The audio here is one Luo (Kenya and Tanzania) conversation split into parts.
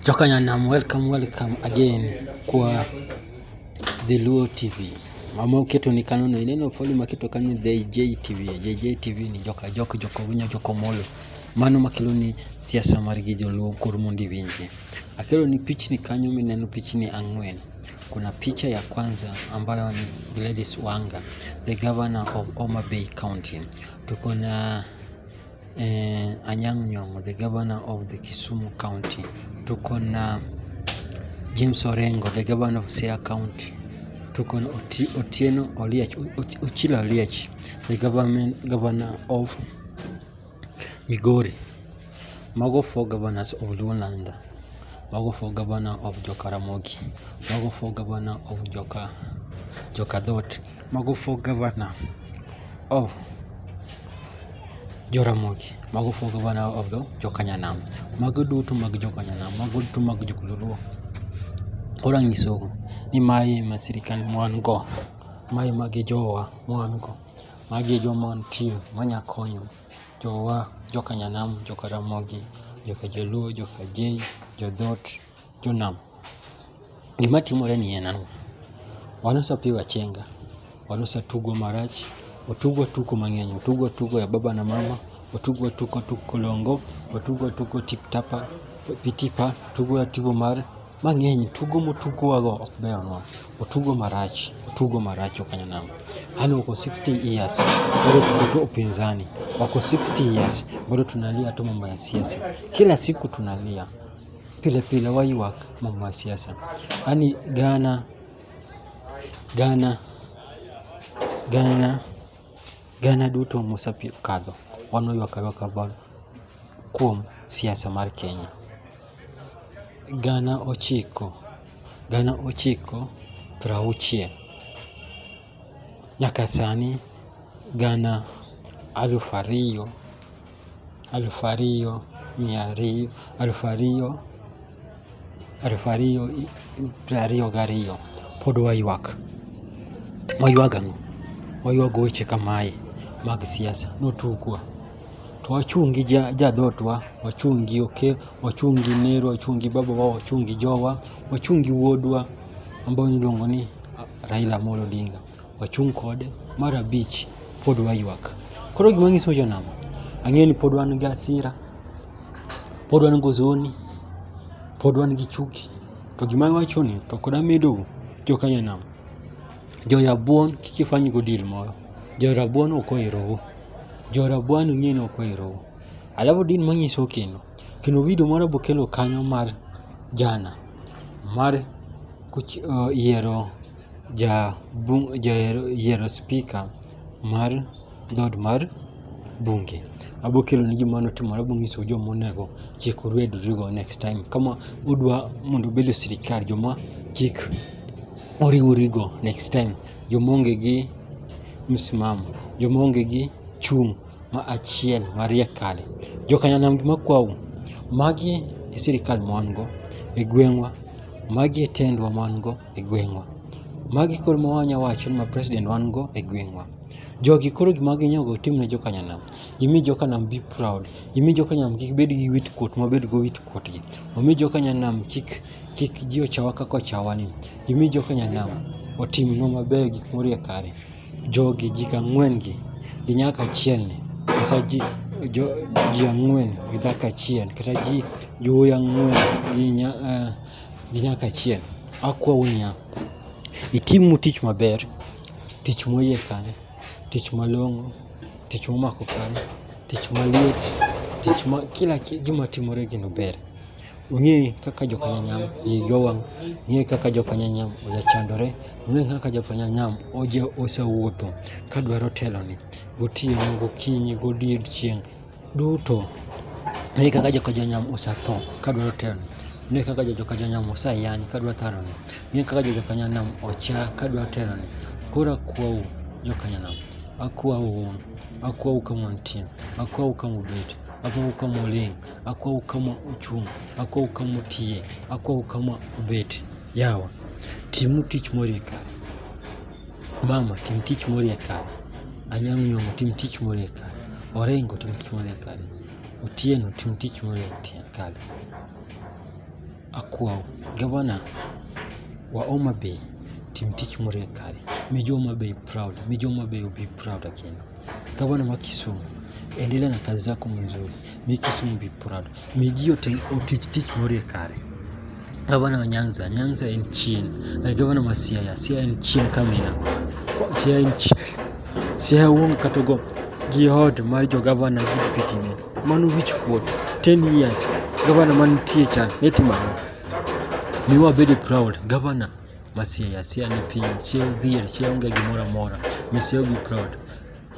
Jokanyanam, welcome welcome again kwa The Luo TV. Mama uketo ni kano no ineno foli maketo kanyo The JTV. JJ TV ni joka jok joko winyo joko molo. Mano makelo ni siasa mar gi joluo kor mondo iwinje. Akelo ni pichni kanyo mineno pichni ang'wen. Kuna picha ya kwanza ambayo ni Gladys Wanga, the governor of Homa Bay County. Tuko na eh, Anyang' Nyong'o the governor of the Kisumu county, tuko na James Orengo the governor of Siaya county, tuko na Otieno Oliech, Ochilo Oliech the government governor of Migori. Mago four governors of Luoland. Mago four governor of Joka Ramogi. Mago four governor of Joka Joka Dhot. Mago for governor of Joramogi. Mago for governor of the Jokanyanam. Mago duto mag Jokanyanam. Mago duto mag Jokuluo. Koro anyisogo ni mae ma sirikal mwan go. Mae magi jowa mwan go. Magi e joma wantie manya konyo jowa Jokanyanam, Jokaramogi, Jokajoluo, Jokajei, Jodhot. Jonam. Gima timore ni en ang'o? Wanusa pi wachenga, wanusa tugo marach, otugo tuko mang'eny, otugo tugo ya baba na mama, otugo tuko tuko kolongo, otugo tuko tiptapa, pitipa, tugo ya tibo mar mang'eny, tugo motugowago ok beyonwa, otugo marach, otugo marach okanyo nam. Hali wako 60 years bado tuko tu upinzani, wako 60 years bado tunalia tu mambo ya siasa, kila siku tunalia. Pile pile waywak mom wa siasa. Yaani Ghana Ghana Ghana Ghana duto mosekadho wan waywak aywaka bang' kuom siasa mar Kenya. Gana ochiko gana ochiko prauchiel nyaka sani gana alufu ariyo alfu ariyo mia ariyo alfu ariyo alfu ariyo piero ariyo gariyo pod waywak. Waywak ang'o? Waywak weche kamae mag siasa notugwa to wachung' gi jadhotwa, wachung' gi oke, wachung' gi nerwa, wachung' gi babawa, wachung' gi jowa, wachung' gi wuodwa ambayo niluongo ni Raila Amolo Odinga. wachung' kode. Mar abich, pod waywak. Koro gima nyiso jonam, ang'eyo ni pod wan gi asira, pod wan gozoni, pod wan gi chuki. To gima awacho ni to kod amedo jo Kenya nam, jo rabuon kik ifany go deal moro. Jo rabuon ok oherou. Jo rabuon ung'e ni ok oherou. Alafu din manyiso kendo, kendo video moro bokelo kanyo mar jana mar kuch- uh, yiero jayiero spika mar dhod mar bunge. Abo kelonu gima notimore abo nyisou joma onego kik urwedrego next time. Kama udwa mondo ubed e sirkal joma kik uriwrigo next time. Joma onge gi msimamo, joma onge gi chung' ma achiel mariek kare. Jokanyanam gima kwau, magi e sirkal ma wan go e gweng'wa, magi e tendwa ma wan go. e gweng'wa. Magi koro ma wanya wacho ni ma president wan go e gweng'wa. Jogi koro gima ginyogo tim ne jokanyanam. Gimi jokanam be proud. Gimi jokanyanam kik bed gi wit kuot ma bed go wit kuotgi. Omi jokanyanam kik kik ji ochawa kaka ochawa ni. Gimi jokanyanam otim nwa maber gik morie kare. Jogi ji ang'wen gi gi nyaka achiel ni. Kasa ji jo ji ang'wen gi dhako achiel kata ji jowuoyi ang'wen gi nya. gi nyaka chieng'. Akwau niya, itimnu tich maber, tich moyie kare, tich malong'o, tich momako kare, tich maliet, tich ma kila gima timore gino ber. Ung'e kaka joka nyanyam igi owang', ung'e kaka joka nyanyam ojachandore, ung'e kaka joka nyanyam oja osewuotho ka dwaro teloni, gotieno, gokinyi, godiechieng'. Duto. Ere kaka joka Jonam osetho ka dwaro tero ne kaka joka Jonam oseyany ka dwaro tero ne kaka joka Jonam ocha ka dwaro tero ne koro akwau joka Jonam akwau akwau kama untie akwau kama ubet akwau kama uling akwau kama uchung akwau kama utie akwau kama ubet yawa timu tich mori kare Mama tim tich mori e kare. Anyang' nyong'o tim tich mori e kare. Orengo tim tich mori e kare. Otieno tim tich mori e kare. Akwaw gavana wa Homa Bay tim tich mori e kare. Mi jo Homa Bay proud. Mi jo Homa Bay will be proud again. Gavana wa Kisumu endelea na kazi zako mzuri. Mi Kisumu be proud. Mi ji otich tich morie kare. Gavana wa Nyanza, Nyanza en chien. Eh, gavana wa Siaya, Siaya en chien kamina. Siaya en chien. Siaya uongo kata go gi od mar jo gavana gi pitine. Mano wich kuot. 10 years. Gavana mantie cha ne timano. Mi wabede proud. Gavana ma Siaya, Siaya ni piny. Siaya dhier, Siaya onge gimoro amora. Mi Siaya be proud.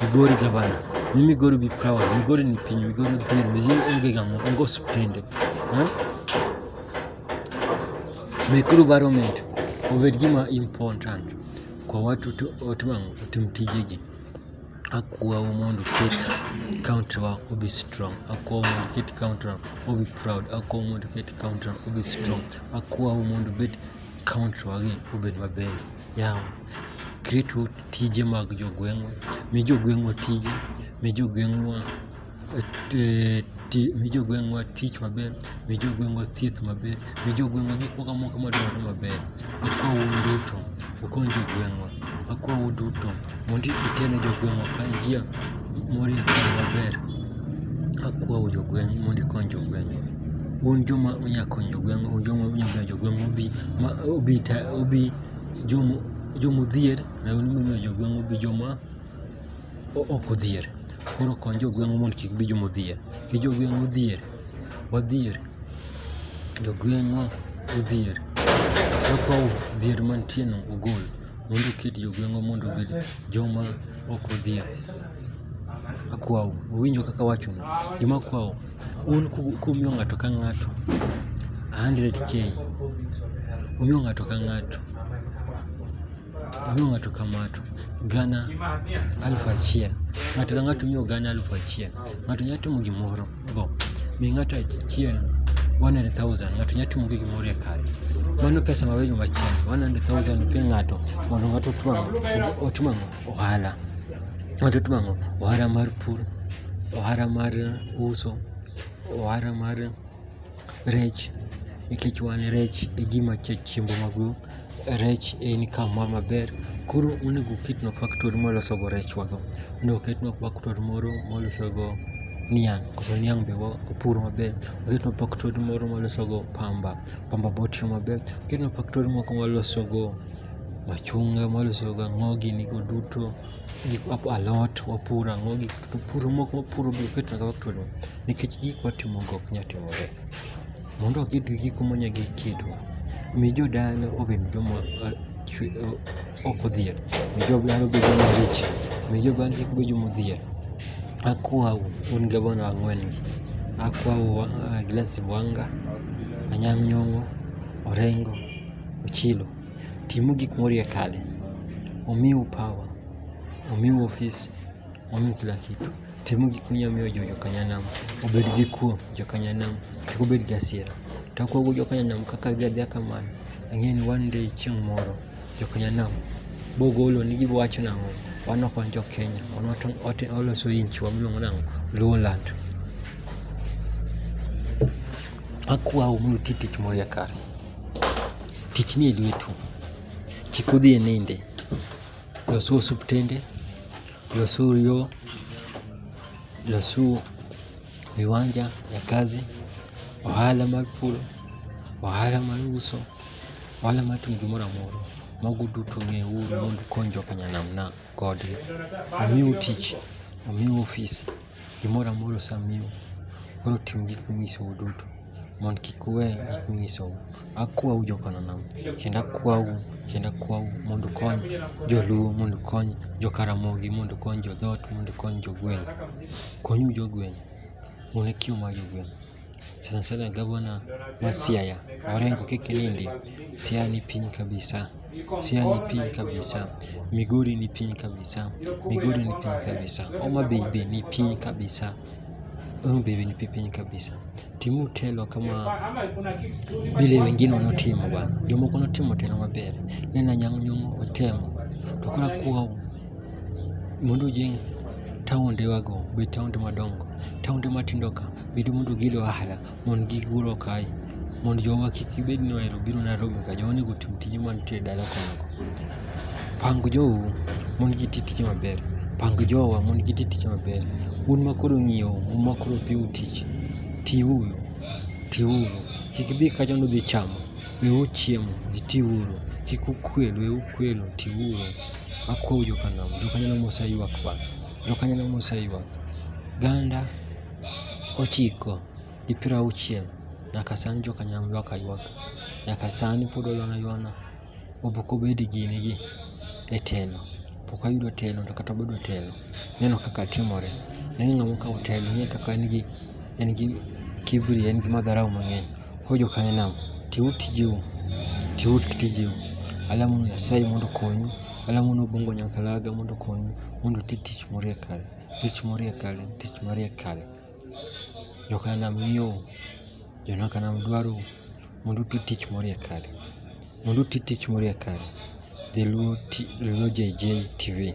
Migori gavana, mi Migori be proud. Migori ni piny, Migori dhil, Migori onge gamo, onge osiptende. Eh? Mekuru environment obed gima important kwa watu otimango otim tijegi. Akwawo mondo ket county wa obi strong. Akwawo mondo ket county wa obi proud. Akwawo mondo ket county wa obi strong. Akwawo mondo bed county wa gi obed maber. Yawa. Ketwa tije mag jogweng'wa, mi jogweng'wa tije, mi jogweng'wa eh, mi jogweng'wa tich maber, mi jogweng'wa thieth maber, mi jogweng'wa gik moko amoko madwarore maber. Akwa un duto ukony jogweng'wa, akwa un duto mondo uter ne jogweng'wa ka njia morie kare maber. Akwa u jogweng' mondo ikony jogweng'wa. Un joma unya konyo jogweng'wa, un joma unya miyo jogweng'wa obi, ma obi ta, obi. jomodhier nayo ni momiyo jogweng' obi joma ok odhier koro kony jogweng'wa mondo kik bi joma odhier ki jogweng' odhier wadhier jogweng'wa odhier wakaw dhier mantie no ogol mondo oket jogweng'wa mondo obed joma ok odhier akwau uwinjo kaka awacho no joma akwau Un kumiyo ng'ato ka ng'ato 100k, umiyo ng'ato ka ng'ato, umiyo ng'ato ka ng'ato gana alufu achiel, ng'ato ka ng'ato umiyo gana alufu achiel. Ng'ato nyalo timo gimoro go, mi ng'ato achiel 100,000 ng'ato nyalo timo gi gimoro e kare. Mano pesa mabedo machielo 100,000 pe ng'ato mondo ng'ato otwang' otimo ang'o? ohala. Ng'ato timo ang'o? Ohala mar pur, ohala mar uso, ohala mar rech nikech wan rech e gima chiembwa maduong', rech e income wa maber. Koro onego oketnwa factory mwalosogo rechwago, onego oketnwa factory moro mwalosogo niang' koso niang' be wapuro maber, oketnwa factory moro mwalosogo pamba, pamba be watiyo maber, oketnwa factory moko mwalosogo. machunga mwaloso gi ang'o gini go duto gik alot wapuro ang'o gik puro moko wapuro biro keto na factory no nikech gik watimo go ok nya timore mondo waked gi gigo monya gi kitwa mi jodala obed joma ok odhier mi jodala obed joma rich mi jodala kik bed joma odhier akwau un gavana ang'wen gi akwau Gladys Wanga Anyang' Nyong'o Orengo Ochilo Timo gik morie kale. Omiu power. Omiu ofisi. Omiu kila kitu. Timo gik munyalo miyo jo jokanyanam obed gi kuo jokanyanam kik obed gi asiera. To akuogo jokanyanam kaka giadhia kamano, ang'eyo ni one day chieng' moro jokanyanam bogolo ni giwacho nang'o wan ok wan jo Kenya wan waloso inchi wamiluongo nang'o Luoland. Akwau mondo uti tich morie kare. Tich nie lwetu. Kik udhi e ninde. Losu osuptende, losu yo, losu viwanja ya kazi, ohala mar puro, ohala mar uso, ohala mar timo gimoro amora. Mago duto ng'euru mondo ukony jokanyanamna kodgi. Omiu tich, omiu ofis. Gimoro amora osemiyou, koro tim gik monyisou duto, mondo kik uwe gik monyisou. Akwau joka Nanam, kendo akwau, kendo akwau mondo ukony joluo, mondo ukony joka Ramogi, mondo ukony jo dhoot, mondo ukony jo gweng'. Konyuru jo gweng', un e kio mar jo gweng'. sana sana gavana wa Siaya Orengo Kikinindi. Siaya ni piny kabisa, Siaya ni piny kabisa, Migori ni piny kabisa, Migori ni piny kabisa, Homa Bay be ni piny kabisa, Homa Bay be ni piny kabisa. Timu telo kama vile wengine wanaotimu bwana, jomoko wanatimu telo maber, nena nyang' nyong' otemo to kora kuwa Mondo ojeng' taondewago bed taonde madongo, taonde matindo ka bende mondo gikel ohala mondo gigurwa kae mondo jowa kik gibed ni ohero biro Nairobi ka jowa onego otim tije mantie e dala kono. Pang jou mondo giti tije maber, pang jowa mondo giti tije maber. Un ma koro ng'iewo, un ma koro piyo tich, tiuru, tiuru. Kik idhi kacha ni udhi chamo, weuru chiemo, dhi tiuru. Kik ukwel, weuru kwelo, tiuru. Akwou jokanam, jokanam mose ywak pa, jokanam mose ywak. Ganda ochiko gi piero auchiel nyaka sani jokanam ywak aywak. Nyaka sani pod oywana ywana. Obok obed gini gi e telo. Pok ayudo telo to kata obedo telo, neno kaka timore. Neno ng'ama okawo telo, ing'e kaka en gi, en gi kiburi, en gi madharau mang'eny. Koro jokanyo nam, tiuru tijeu, tiuru tijeu. Alamo ni Nyasaye mondo okonyu, alamo ni Obongo Nyakalaga mondo okonyu, mondo uti tich morie kare, tich morie kare, tich marie kare. Jokanyo nam ng'iyou, jonaka nam dwarou, mondo uti tich morie kare, mondo uti tich morie kare. Dholuo Ti- Dholuo JJ TV.